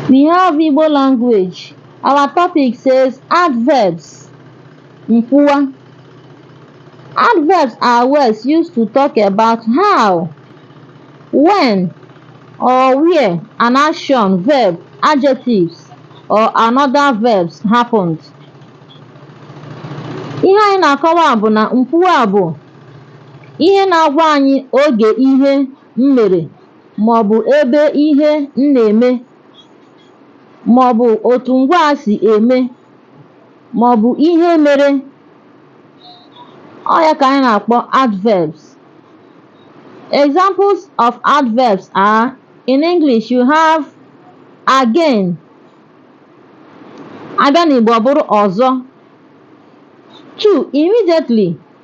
We have Igbo language. Our topic says adverbs. Nkwuwa. Adverbs are words used to talk about how, when, or where an action, verb, adjectives, or another verbs happened. Ihe anyị na-akọwa bụ na nkwuwa bụ ihe na-agwa anyị oge ihe m mere maọbụ ebe ihe m na-eme maọbụ otu ngwaa si eme maọbụ ihe mere ọ ya ka anyị na-akpọ adverbs examples of adverbs are in English you have again a bịa n'Igbo ọ bụrụ ọzọ two immediately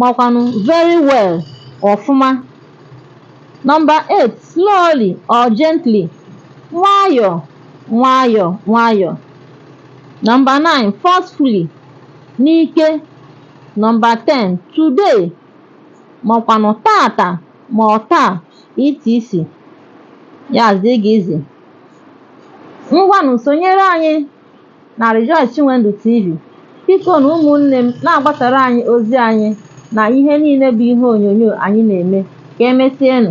Makwanụ, very well, ọfụma. Number eight, slowly or gently, nwayọ, nwayọ, nwayọ. Number nine, forcefully, n'ike. Number ten, today, makwanụ tata ma ọ taa, etc. Ya zee gị izi. Ngwanụ sonyere anyị na Rejoice Chinwendu TV. Bikonụ ụmụnne m na-agbasara anyị ozi anyị na ihe niile bụ ihe onyonyo anyị na-eme. Ka emesienụ.